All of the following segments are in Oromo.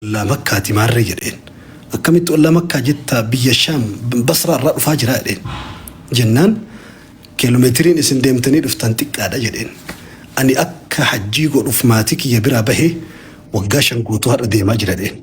Ollaa Makkaati maarree jedheen. Akkamitti ollaa Makkaa jetta biyya Shaam Basraa irraa dhufaa jira jedheen. Jennaan kiiloomeetiriin isin deemtanii dhuftan xiqqaadha jedheen. Ani akka hajjii godhuuf maatii kiyya biraa bahee waggaa shan guutuu har'a deemaa jira jedheen.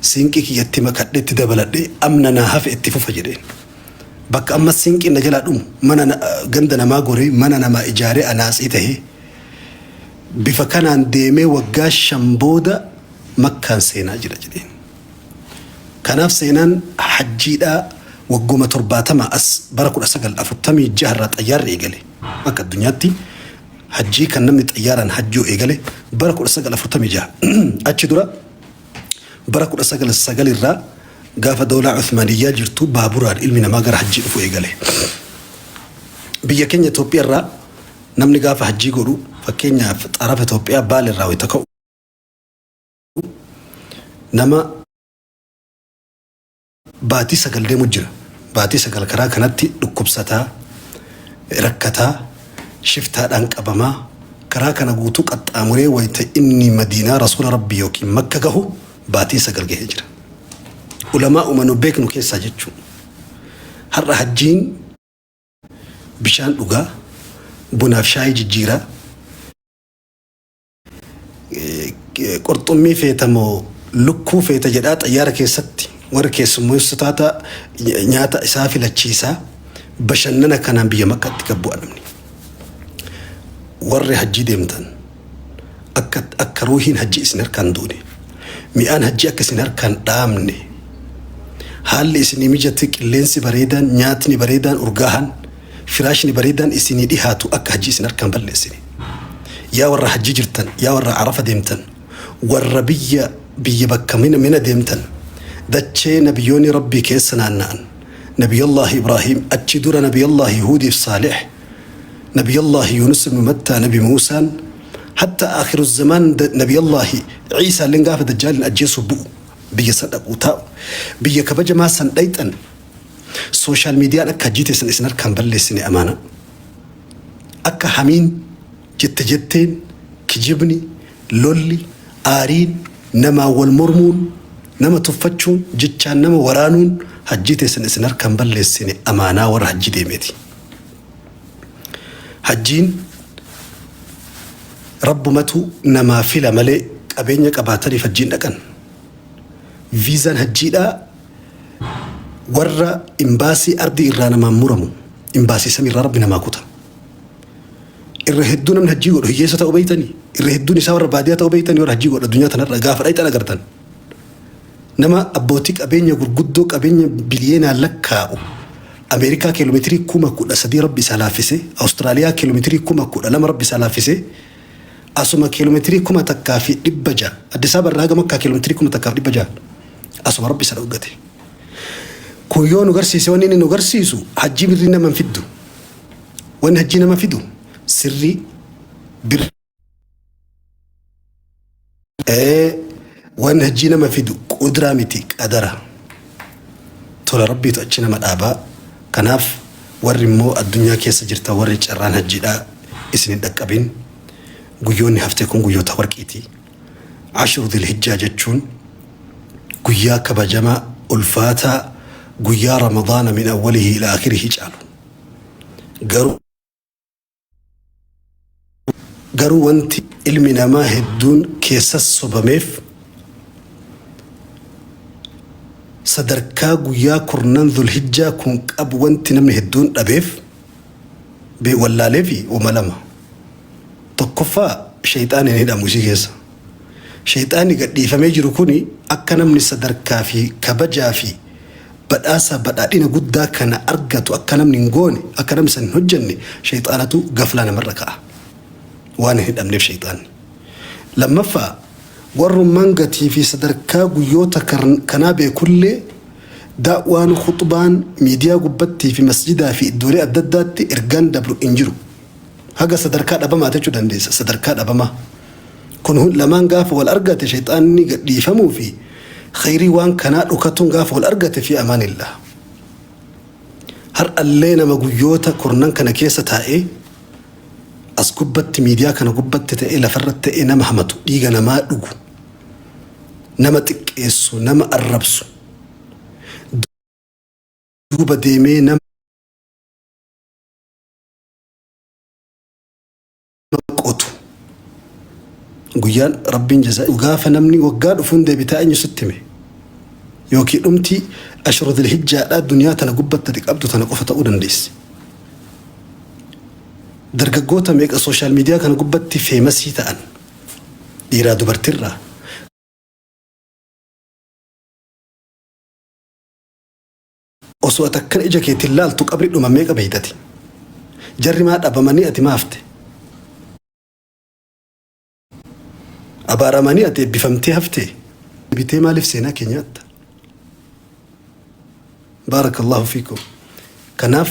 siinqii kiyya itti makadhe itti dabaladhe amna naa hafe itti fufa jedheen. Bakka ammas siinqiin na jalaa dhumu mana na- ganda namaa goree mana namaa ijaaree anaatsii tahee bifa kanaan deemee waggaa shan booda makkaan seenaa jira jedheen. Kanaaf seenaan hajjiidhaa wagguma torbaatamaa as bara 1946 irraa xayyaarri eegale akka addunyaatti Hajjii kan namni xayyaaraan hajjuu eegale bara 1946. Achi dura bara 199 irraa gaafa Dawlaa Uthmaaniyyaa jirtu baaburaan ilmi namaa gara hajjii dhufu eegale. Biyya keenya Itoophiyaa irraa namni gaafa hajjii godhu fakkeenyaaf xarafa Itoophiyaa Baale irraa wayita ka'u nama Baatii sagal deemu jira. Baatii sagal karaa kanatti dhukkubsataa, rakkataa, shiftaadhaan qabamaa, karaa kana guutuu qaxxaamuree wayta inni Madiinaa Rasuula Rabbii yookiin Makka gahu baatiin sagal gahee jira. Ulamaa'uma nu beeknu keessaa jechuu. Har'a hajjiin bishaan dhugaa, bunaaf shaayii jijjiiraa, Qurxummii feeta moo lukkuu feeta jedhaa xayyaara keessatti warri keessummeessu taata nyaata isaa filachiisaa bashannana kanaan biyya makkaatti gad bu'a namni. Warri hajjii deemtan akka akka ruuhiin hajjii isin harkaan duune mi'aan hajjii akka isin harkaan dhaamne haalli isinii mijate qilleensi bareedaan nyaatni bareedaan urgaahan Firaashni bareedaan isinii dhihaatu akka hajjii isin harkaan balleessine. Yaa warra hajjii jirtan, yaa warra Arafa deemtan, warra biyya biyya bakka Mina Mina deemtan, dachee Nabiyooni Rabbii keessa naanna'an, Nabiyallaahi Ibraahiim, achi dura Nabiyallaahi Huudiif Saalih, Nabiyallaahi Yuunus ibnu Mattaa, Nabi Muusaan, hatta Aakhiru Zamaan Nabiyallaahi Iisaalleen gaafa Dajjaaliin ajjeesuuf bu'u biyya san dhaquu taa'u. Biyya kabajamaa san dhayxan. Social median akka hajjii teessan isin harkaan balleessine amaana. Akka hamiin jette jetteen kijibni, lolli, aariin, namaan wal mormuun, nama tuffachuun, jechaan nama waraanuun hajjii teessan isin harkaan balleessine amaanaa warra hajjii deemeeti. Hajjiin rabbumatu namaa fila malee qabeenya qabaataniif hajjiin dhaqan. Viizaan hajjiidhaa Warra imbaasii ardii irraa namaan muramu imbaasii samii irraa rabbi namaa kuta. Irra hedduu namni hajjii godhu hiyyeessa ta'uu beeytanii? Irra hedduun isaa warra baadiyaa ta'uu beeytanii warra hajjii godhu addunyaa tanarra gaafa dhayxan agartan. Nama abbootii qabeenya gurguddoo qabeenya biliyeenaan lakkaa'u Ameerikaa kiiloomeetirii kuma kudha sadii rabbi isaa laaffise, Awustiraaliyaa kiiloomeetirii kuma kudha lama rabbi isaa laaffise, asuma kiiloomeetirii kuma takkaa fi dhibba ja'a Addis Ababa irraa haga Makkaa kiiloomeetirii kuma takkaa fi dhibba ja'a. Asuma rabbi isa dhoggate. Kun yoo nu garsiise wanni inni nu garsiisu hajjii birrii nama hin fiddu. Wanni hajjii nama fidu sirrii birrii. Ee, Wanni hajjii nama fidu qudraa miti qadara. Tola rabbiitu achi nama dhaabaa. Kanaaf warri immoo addunyaa keessa jirta warri carraan hajjiidhaa isin hin dhaqqabin. Guyyoonni haftee kun guyyoota warqiiti. Ashru Dhil-Hijjaa jechuun guyyaa kabajamaa, ulfaataa, guyyaa Ramadaana min awwalihi ila akhirihi caalu. Garuu garuu wanti ilmi namaa hedduun keessas sobameef sadarkaa guyyaa kurnan Dhul-Hijjaa kun qabu wanti namni hedduun dhabeef Be wallaalee fi uma lama. Tokkoffaa sheyxaanni hin hidhamu isii keessa. Sheyxaanni gadhiifamee jiru kuni akka namni sadarkaa fi kabajaa fi badhaasa badhaadhina guddaa kana argatu akka namni hin goone akka namni san hin hojjenne sheyxaanatu gaflaa namarra ka'a. Waan hin hidhamneef sheyxaanni. Lammaffaa warrummaan gatii fi sadarkaa guyyoota kanaa beekullee Da'waan, khuxbaan, miidiyaa gubbattii fi masjidaa fi iddoolee adda addaatti ergaan dabru hin jiru. Haga sadarkaa dhabamaati jechuu dandeessa. Sadarkaa dhabamaa. Kun hun lamaan gaafa wal argate shayxaanni gad dhiifamuu fi khayrii waan kanaa dhokatuun gaafa wal argate fi amaanillah. Har'allee nama guyyoota kurnan kana keessa taa'ee as gubbatti miidiyaa kana gubbatti ta'ee lafarratti ta'ee nama hamatu, dhiiga namaa dhugu, nama xiqqeessu, nama arrabsu, duuba deemee nama qotu. Guyyaan Rabbiin jazaa gaafa namni waggaa dhufuun deebitaa eenyu sitti hime? Yookiin dhumtii ashura dilhijjaadhaa duniyaa tana gubbatti ati qabdu tana qofa ta'uu dandeessi. Dargaggoota meeqa sooshaal miidiyaa kana gubbatti feemasii ta'an Dhiiraa dubartirraa. Osoo ati akkana ija keetiin laaltu qabri dhuma meeqa beektati? Jarri maa dhabamanii ati maa hafte? Abaaramanii ati eebbifamtee haftee? Bitee maaliif seenaa kee nyaatta? Baarakallahu fiikum. Kanaaf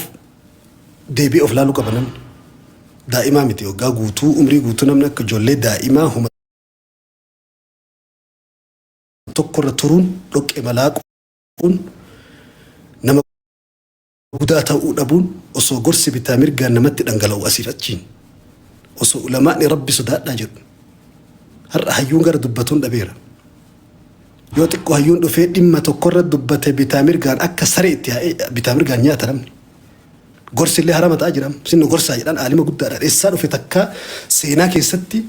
Deebi'ee of laaluu qaba namni. Daa'imaa miti waggaa guutuu umrii guutuu namni akka ijoollee daa'imaa homa tokkorra turuun dhoqqee malaaquun nama gudaa ta'uu dhabuun osoo gorsi bitaa mirgaan namatti dhangala'u asiif achiin osoo ulamaa'ni rabbi sodaadhaa jedhu har'a hayyuun gara dubbatuun dhabeera. Yoo xiqqo hayyuun dhufee dhimma tokkorra dubbate bitaa mirgaan akka saree itti yaa'ee bitaa mirgaan nyaata namni. Gorsi illee harama ta'a jira. Isin nu gorsaa jedhaan aalima guddaadhaan eessaa dhufe takkaa seenaa keessatti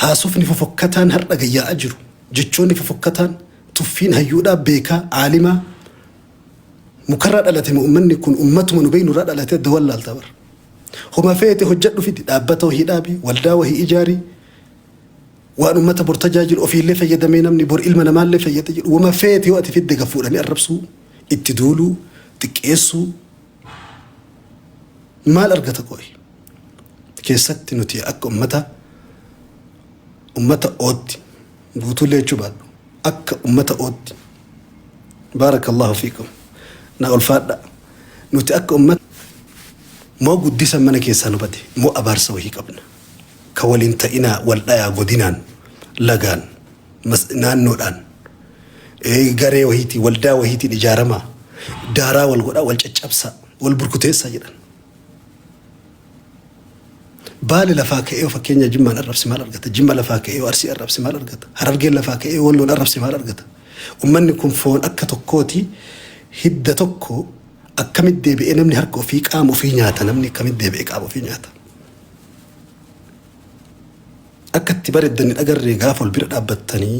haasofni fofokkataan har'a gayyaa'aa jiru. Jechoonni fofokkataan tuffiin hayyuudhaa beekaa aalimaa mukarraa dhalate moo ummanni kun ummatuma nu beeknurraa dhalate adda wallaalta bara. Homa feete hojjedhu fidi dhaabbata wahii dhaabi waldaa wahii ijaari Waan ummata bor tajaajilu ofiillee fayyadamee namni bor ilma namaallee fayyada jedhu wama feete yoo ati fidde gad fuudhanii arrabsuu, itti duuluu, xiqqeessuu maal argata qooyi? Keessatti nuti akka ummata ummata ootti guutuullee jechuu baadhu akka ummata ootti baarakallahu fiikum na ulfaadha nuti akka ummata moo guddisan mana keessaa nu bade moo abaarsa wahii qabna. Ka wal hin ta'inaa wal dhayaa godinaan, lagaan, mas, naannoodhaan, garee wahiitiin, waldaa wahiitiin ijaaramaa, daaraa wal godhaa, wal caccabsaa, wal burkuteessaa jedhan. Baale lafaa ka'ee yoo fakkeenyaa Jimmaan arrabse maal argata? Jimma lafaa ka'ee yoo Arsii arrabse maal argata? Harargeen lafaa ka'ee yoo Walloon arrabse maal argata? Ummanni kun foon akka tokkooti, hidda tokko, akkamitti deebi'ee namni harka ofii qaama ofii nyaata namni akkamitti deebi'ee qaama ofii nyaata? Akka itti bareddan hin agarree gaafa wal bira dhaabbattanii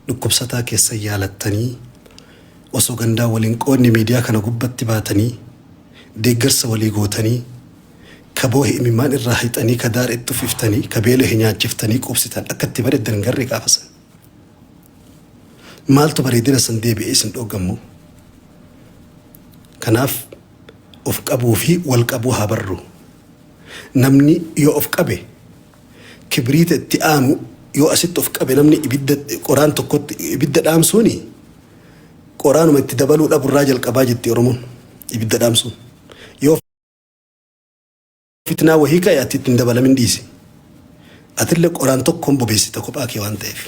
dhukkubsataa keessan yaalattanii osoo gandaan wal hin qoodne miidiyaa kana gubbatti baatanii deeggarsa walii gootanii ka boohe imimmaan irraa hixanii ka daare itti uffiftanii ka beelahe nyaachiftanii quubsitan akka itti bareddan hin garree gaafa san. Maaltu bareedina san deebi'ee isin dhooggammoo? Kanaaf Of qabuu fi wal qabuu haa barru. Namni yoo of qabe kibriita itti aanu yoo asitti of qabe namni ibidda qoraan tokkotti ibidda dhaamsuuni qoraanuma itti dabaluu dhabu irraa jalqabaa jetti Oromoon ibidda dhaamsuun. Yoo Fitnaa wahii ka'i ati itti hin dabalamin dhiisi. Atille qoraan tokkoon bobeessita kophaa kee waan ta'eef.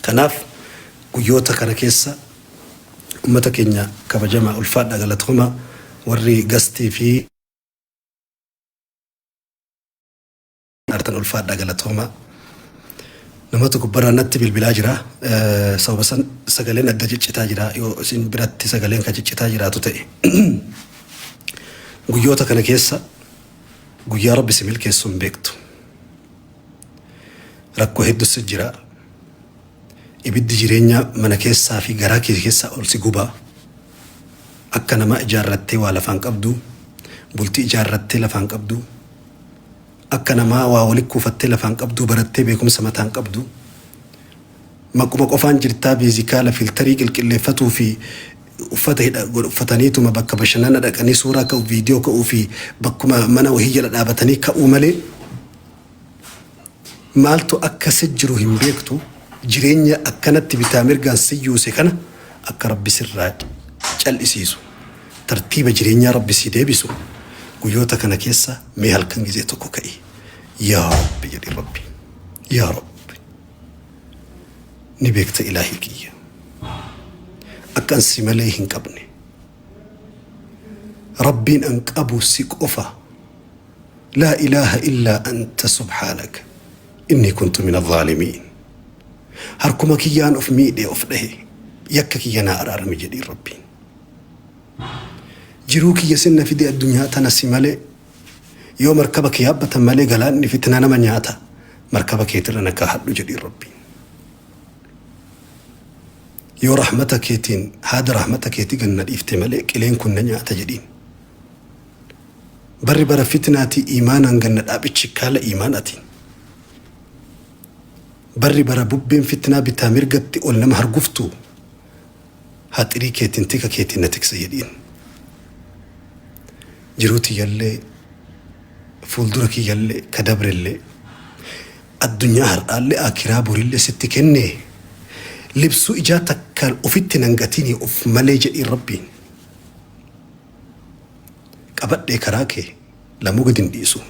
Kanaaf guyyoota kana keessa ummata keenya kabajamaa ulfaadhaa galatoomaa warri gastii fi artan ulfaadhaa galatoomaa. Namatu gubbarraa natti bilbilaa jira. Sababa san sagaleen adda ciccitaa jira yoo isin biratti sagaleen kan ciccitaa jiraatu ta'e. Guyyoota kana keessa guyyaa Rabbi si milkeessu hin beektu. Rakkoo heddu si jira. Ibiddi jireenyaa mana keessaa fi garaa kee keessaa ol si guba. Akka namaa ijaarrattee waa lafaan qabdu, bultii ijaarrattee lafaan qabdu. Akka namaa waa wali kuufattee lafaan qabduu barattee beekumsa mataan qabdu maquma qofaan jirtaa beezikaala filtarii qilqilleeffatuu fi uffata hidha godh uffataniituma bakka bashannana dhaqanii suuraa ka'u viidiyoo ka'uu fi bakkuma mana wahii jala dhaabatanii ka'uu malee maaltu akka si jiru hin beektu jireenya akkanatti bitaa mirgaan si yuuse kana akka rabbi sirraa cal'isiisu. Tartiiba jireenyaa Rabbi sii deebisu guyyoota kana keessa mee halkan gizee tokko ka'i yaa Rabbi jedhi Rabbi yaa Rabbi ni beekta ilaahii kiyya akkan si malee hin qabne Rabbiin an qabu si qofa laa ilaaha illaa anta subhaanaka innii kuntu min adhaalimiin harkuma kiyyaan of miidhee of dhahe yakka kiyya naa araarami jedhi Rabbiin Jiruu kiyya sin na fide addunyaa tana si malee Yoo markaba kee yaabbatan malee galaanni fitna nama nyaata markaba keetirra na kaahadhu jedhiin Rabbiin Yoo rahmata keetiin haada rahmata keeti gad na dhiifte malee qileen kun na nyaata jedhiin Barri bara fitnaati iimaanaan ganna dhaabi chikkaala iimaanaatiin Barri bara bubbeen fitnaa bitaa mirgatti ol nama harguftu Haxirii keetiin tika keetiin na tiksa jedhiin. Jiruu tiyyallee fuuldura kiyyallee ka dabrellee addunyaa har'aallee akiraa borillee sitti kennee libsuu ijaa takkaan ofitti nan gatinii of malee jedhiin rabbiin. Qabadhee karaa kee. Lamuu gad hin dhiisu.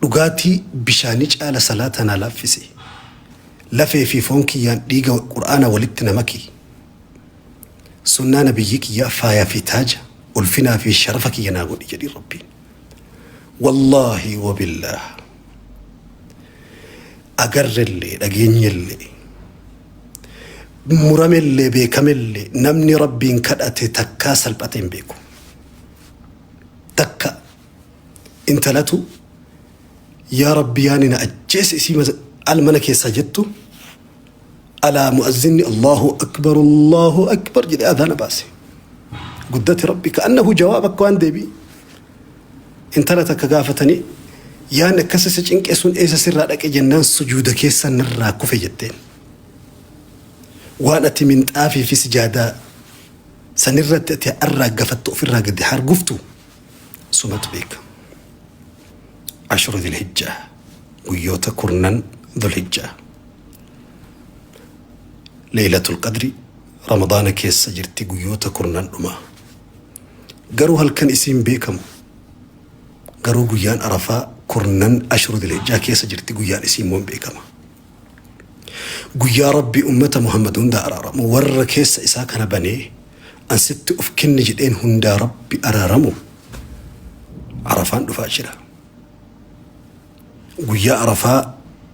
Dhugaatii bishaanii caala salaata naa laaffisi. Lafee fi foon kiyyaan dhiiga Qur'aanaa walitti na maki. Sunnaa Nabiyyii kiyyaa faayaa fi taaja, ulfinaa fi sharafa kiyya naa godhi jedhiin Rabbiin. Wallaahi wa billaah. Agarrellee, dhageenyellee, muramellee, beekamellee namni Rabbiin kadhate takkaa salphate hin beeku. takka intalatu yaa rabbi yaani na ajjeese isii mas- al mana keessaa jettu alaa mu'azzinni allahu akbar allahu akbar jedhe adana baase guddati rabbi ka'annahu jawaab akka waan deebii intala takka gaafatanii yaanni akkas isa cinqe sun eessa sirraa dhaqe jennaan sujuuda keessa narraa kufe jetteen waan ati minxaafii fi sijaadaa San irratti ati haa arraaggafattu ofirraa gadi haa arguftu sumatu beeka. Ashura Dhilhijjaa guyyoota kurnan Dhulhijjaa. Leeylatul Qadri Ramadaana keessa jirti guyyoota kurnan dhumaa. Garuu halkan isii hin beekamu. Garuu guyyaan Arafaa kurnan Ashura Dhilhijjaa keessa jirti guyyaan isii immoo hin beekama. Guyyaa Rabbi ummata Muhammad hunda araaramu warra keessa isaa kana banee an sitti of kenne jedheen hundaa Rabbi araaramu Arafaan dhufaa jira. Guyyaa Arafaa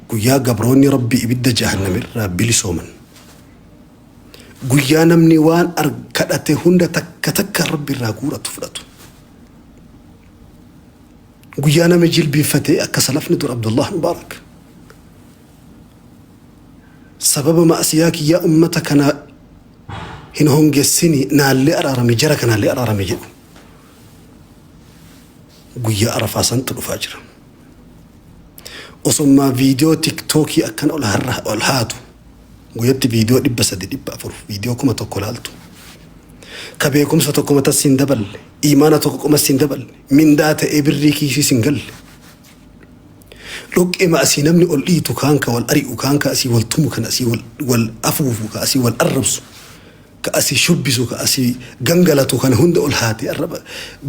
guyyaa gabroonni Rabbi ibidda jahannam irraa bilisooman. Guyyaa namni waan kadhate hunda takka takka Rabbi irraa guuratu fudhatu. Guyyaa nama jilbiinfatee akka salafni dur Abdullah Mubaarak sababa ma'asiyaa kiyyaa ummata kana hin hongessini naallee araarami jara kanaallee araarami jedhu guyyaa arafaa santu dhufaa jira. Osommaa viidiyoo tiktookii akkan ol har'a ol haatu guyyatti viidiyoo dhibba sadi dhibba afur viidiyoo kuma tokko laaltu ka beekumsa tokko matas hin daballe imaana tokko qomas hin daballe mindaa ta'ee birrii kiisiis hin galle. Dhoqqeema asii namni ol dhiitu kaan ka wal ari'u kaan ka asii wal tumu kan asii wal, wal afuufu ka asii wal arrabsu ka asii shubbisu ka asii gangalatu kana hunda ol haatee arraba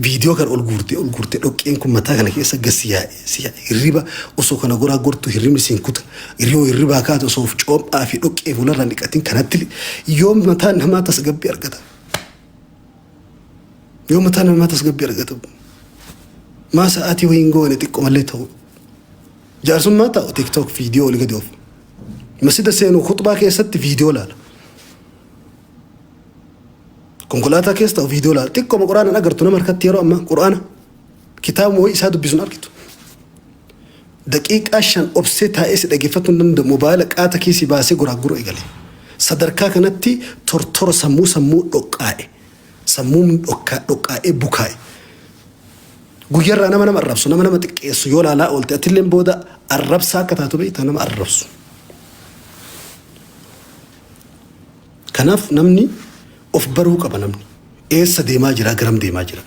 viidiyoo kana ol guurtee ol guurtee dhoqqeen kun mataa kana keessa gad si yaa'e si yaa'e hirriba osoo kana goraa gortu hirribni siin kuta yoo hirribaa kaate osoo of coophaa fi dhoqqee fuularra hin dhiqatin kanatti yoom mataan namaa tasgabbii argata. Yoo mataa namaa tasgabbii argatu maa sa'aatii wayii hin goone xiqqoo malee ta'u. Jaarsummaa taa'u tiktok viidiyoo olii gadi oofu. Masjida seenu khutbaa keessatti viidiyoo laala. Konkolaataa keessa ta'u viidiyoo laala. Xiqqooma quraanaan agartu nama harkatti yeroo ammaa quraana kitaabuma wayii isaa dubbisuun argitu. Daqiiqaa shan obsee taa'ee si dhaggeeffachuu hin danda'u mobaayila qaata kiisii baasee goraagguruu eegale. Sadarkaa kanatti tortora sammuu sammuu dhoqqaa'e. Sammuun dhokkaa dhoqqaa'ee bukaa'e. Guyyarraa nama nama arrabsu nama nama xiqqeessu yoo laalaa oolte atilleen booda arrabsaa akka taatu beekta nama arrabsu. Kanaaf namni of baruu qaba namni. Eessa deemaa jira garam deemaa jira.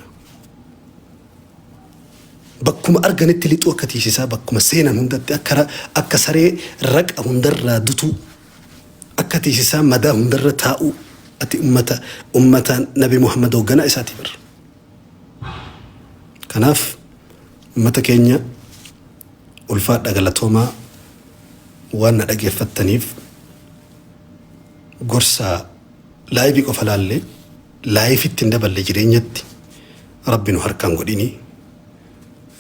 Bakkuma arganitti lixuu akka tiisisaa bakkuma seenan hundatti akka akka saree raqa hundarraa dutuu akka tiisisaa madaa hundarra taa'uu ati ummata ummata nabi Muhammad hoogganaa isaati bar. Kanaaf ummata keenya ulfaadha galatoomaa waan na dhageeffattaniif gorsaa laayivii qofa laallee Life itti hin daballe jireenyatti rabbi nu harka hin godhini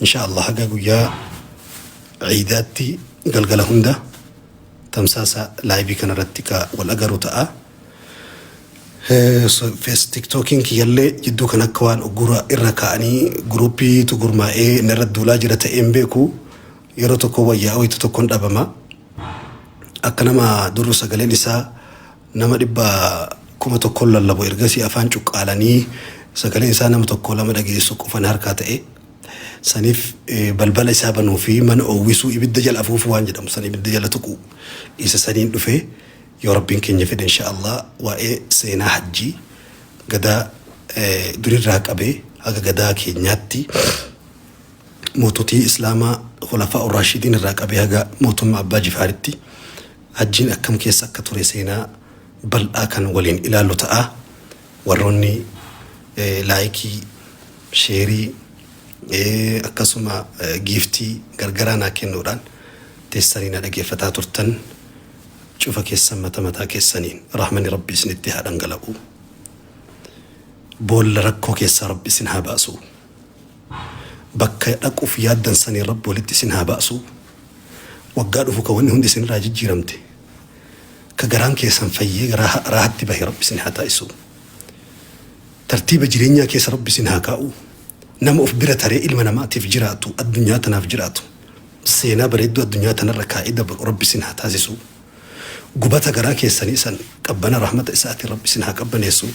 insha allah haga guyyaa ciidaatti galgala hunda tamsaasa laayivii kanarratti ka wal agaru ta'a fees tiktookiin kiyyallee jidduu kan akka waan uggura irra ka'anii guruupiitu gurmaa'ee narra duulaa jira ta'een beeku yeroo tokko wayyaa wayitu tokkon dhabama akka nama durru sagaleen isaa Nama dhibba kuma tokkon lallabu ergasii afaan cuqqaalanii sagaleen isaa nama tokkoo lama dhageessuu qofa na harkaa ta'e. Saniif balbala isaa banuu fi mana oowwisuu ibidda jala afuufuu waan jedhamu san ibidda jala tuquu isa saniin dhufe yoo Rabbiin keenya fedhe inshaa Allah waa'ee seenaa hajjii gadaa durirraa qabee haga gadaa keenyaatti moototii islaamaa khulafaa'u raashidiin irraa qabee haga mootummaa abbaa jifaaritti Hajjiin akkam keessa akka ture seenaa bal'aa kan waliin ilaallu ta'a. Warroonni laayikii, sheerii, akkasuma giiftii gargaraa naa kennuudhaan teessanii na dhageeffataa turtan cufa keessan mata mataa keessaniin rahmani Rabbii isinitti haa dhangala'u. Boolla rakkoo keessaa Rabbi isin haa baasu. Bakka dhaquuf yaaddan saniin Rabbi walitti isin haa ba'su. Waggaa dhufu ka wanni hundi isinirraa jijjiiramte, ka garaan keessan fayyee garaa ha- raahatti bahe Rabbi isin haa taasisu. Tartiiba jireenyaa keessa Rabbi isin haa kaa'u. Nama of bira taree ilma namaatiif jiraatu, addunyaa tanaaf jiraatu. Seenaa bareedduu addunyaa tanarra kaa'ee dabru Rabbi isin haa taasisu. Gubata garaa keessanii san qabbana rahmata isaatiin Rabbi isin haa qabbaneessu.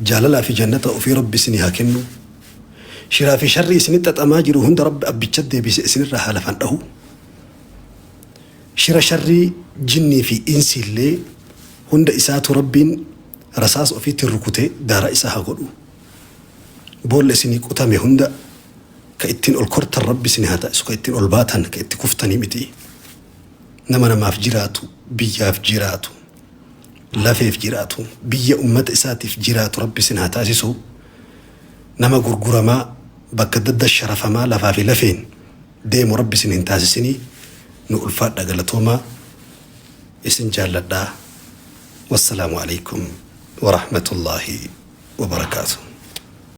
Jaalalaa fi jannata ofii Rabbi isinii haa kennu. Shiraa fi sharrii isinitti xaxamaa jiru hunda Rabbi abbicha deebise isinirraa haa lafan dhahu. Shira sharrii jinnii fi insii illee hunda isaatu Rabbiin rasaas ofiitti rukute daara isaa haa godhu. Boolla isinii qotame hunda ka ittiin ol kortan Rabbi isinii haa taasisu ka ittiin ol baatan ka itti kuftanii miti. Nama namaaf jiraatu biyyaaf jiraatu. lafeef jiraatu biyya ummata isaatiif jiraatu rabbi isin haa taasisu nama gurguramaa bakka adda addaa sharafamaa lafaa fi lafeen deemu rabbi isin hin taasisinii nu ulfaadha galatoomaa isin jaalladha wassalaamu aleykum warahmatullaahi wabarakaatu.